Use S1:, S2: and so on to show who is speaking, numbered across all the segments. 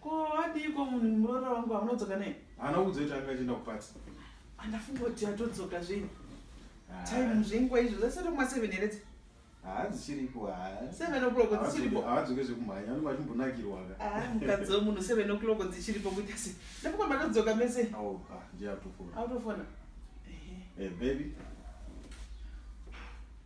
S1: Ko adiiko munhu muroora wangu wamunodzoka naye? Haana kudzoka kuti anga achienda kupati. Andafunga kuti atodzoka zvenyu. Ah. Time zvenguva izvo zasati kuma 7 here dzi? Haa dzichiripo haa. 7 o'clock dzichiripo. Haadzoke zvekumhanya anenge achimbonakirwa ka. Ah mukadzi wemunhu
S2: 7 o'clock dzichiripo kuita sei? Ndafunga matodzoka mese. Oh pa ndiye atofona.
S1: Atofona. Eh baby.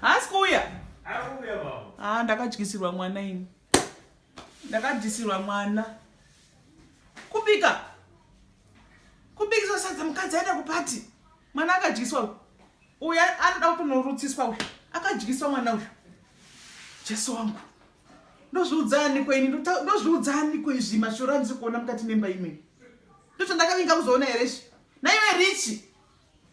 S2: Haasi kuuya. Akuuya
S1: baba. Ah ndakadyisirwa mwana
S2: ini. Ndakadyisirwa mwana. Kubika. Kubikisa sadza mukadzi aenda kupati. Mwana akadyiswa uyu. Uya anoda kutonorutsiswa uyu. Akadyiswa mwana uyu. Jesu wangu. Ndozviudzani ko ini ndozviudzani ko izvi mashura andisikuona mukati memba imwe. Ndozvandakavinga kuzoona here izvi. Naiwe richi.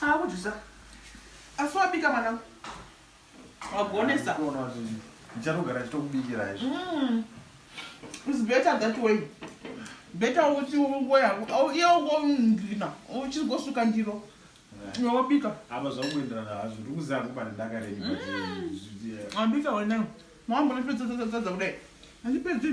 S1: Haa
S2: kujusa. Asi wabika mwanangu. Wagonesa. Kuona kuti
S1: ndichatogara chitokubikira
S2: izvi. Mm. It's better that way. Better uchi ungo yako. Au iye ungo ndina. Uchi go suka ndiro. Yeah. Wabika. Aba zvakuendera
S1: na hazvo. Ndikuziva kupa ndaka reni. Mm. Wabika wena.
S2: Mambo nipedza dza dza dza dza kudai. Andipedzi.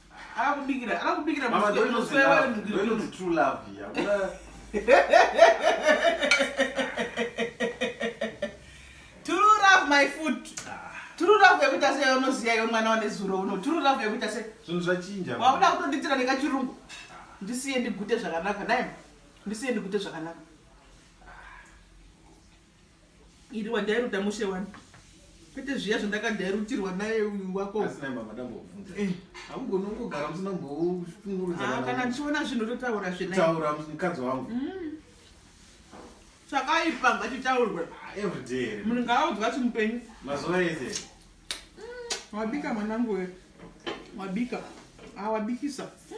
S2: akubikira akubikira musi
S1: true love yeah.
S2: tururav my food tururav yekuita se unoziva iwe mwana wane zuro uno tururav yekuita se zvinhu zvachinja wakuda
S1: kutonditira
S2: nekachirungu ndisiye ndigute zvakanaka naye ndisiye ndigute zvakanaka Iri wadairuta mushe wani. Kwete zviya zvandakadairutirwa naye uyu wako. Asi naye mama
S1: dambobvunza. Eh. Hamugoni kungogara musina mboshungurudza. Ah, kana ndichiona zvinhu
S2: totaura zve naye. Taura mukadzi wangu.
S1: Mm.
S2: Chakaipa ngachitaurwe. Ah, every day.
S1: Munhu ngaaudzwa chimupenyu.
S2: Mazuva ese.
S1: Mm.
S2: Wabika mwanangu we. Wabika. Ah, wabikisa. Mm.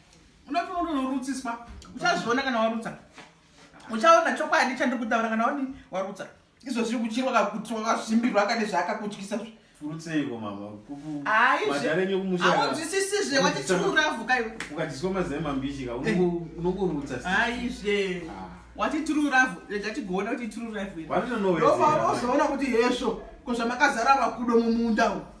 S2: unoti unotonorutsiswa uchazviona kana warutsa uchaona chokwadi chandiri kutaura kana wani warutsa izvo zviri kuchirwa kakuti wakazvimbirwa kane zvaakakutyisa zve furutseiko
S1: mama
S2: aizveaonzwisisizve wati tiruravhuka iwe ukadyiswa mazai
S1: mambishika eh. unongorutsa aizve
S2: ah. wati tiruravhu rega tigoona kuti tiruravhu vatinonoweozoona
S1: kuti hezvo
S2: ko zvamakazara vakudo mumunda uku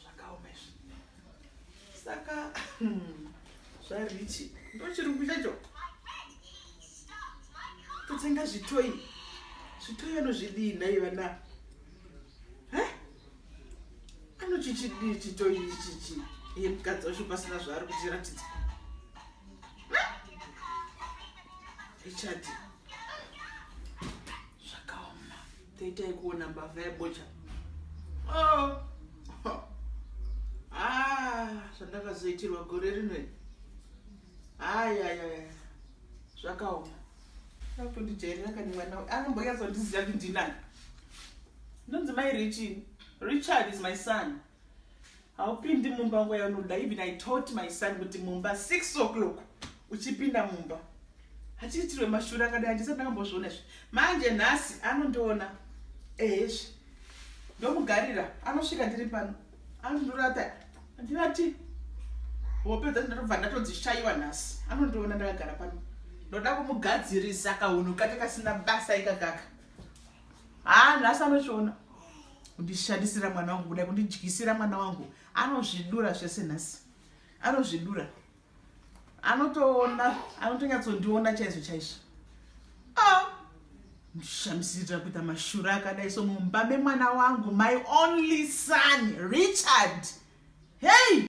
S2: zvakaoma izvi saka zvarichi ndochirungu chacho totenga zvitoyi zvitoyi anozvidii nhai vana anochichidii chitoyi ichichi iye mukadzi wacho pasina zvaari kutiratidza ichati Taitai kuona mbavha yebocha. Oh. Ah, zvandakazoitirwa gore rino. Ai ai ai. Zvakaoma. Apo ndijairira kani mwana uyu. Anomboyazondiziva kuti ndinani. Ndonzi mai Richie. Richard is my son. Haupindi mumba nguva yaunoda. Even I taught my son kuti mumba 6 o'clock uchipinda mumba. Hachiitirwe mashura akadai handisati ndakambozviona izvi. Manje nhasi anondiona ehezvi. Ndomugarira anosvika ndiri pano. Anondorata ndinati hope dzacho ndatobva ndatodzishaiwa nhasi. Anondiona ndakagara pano. Ndoda kumugadzirisa kahunhu kake kasina basa ikakaka. haa nhasi anochiona kundishandisira mwana wangu kudai kundidyisira mwana wangu anozvidura zvese nhasi anozvidura anotoona anotonyatsondiona chaizvo chaizvo ah! ndishamisirira kuita mashura akadai so mumba memwana wangu my only son richard hei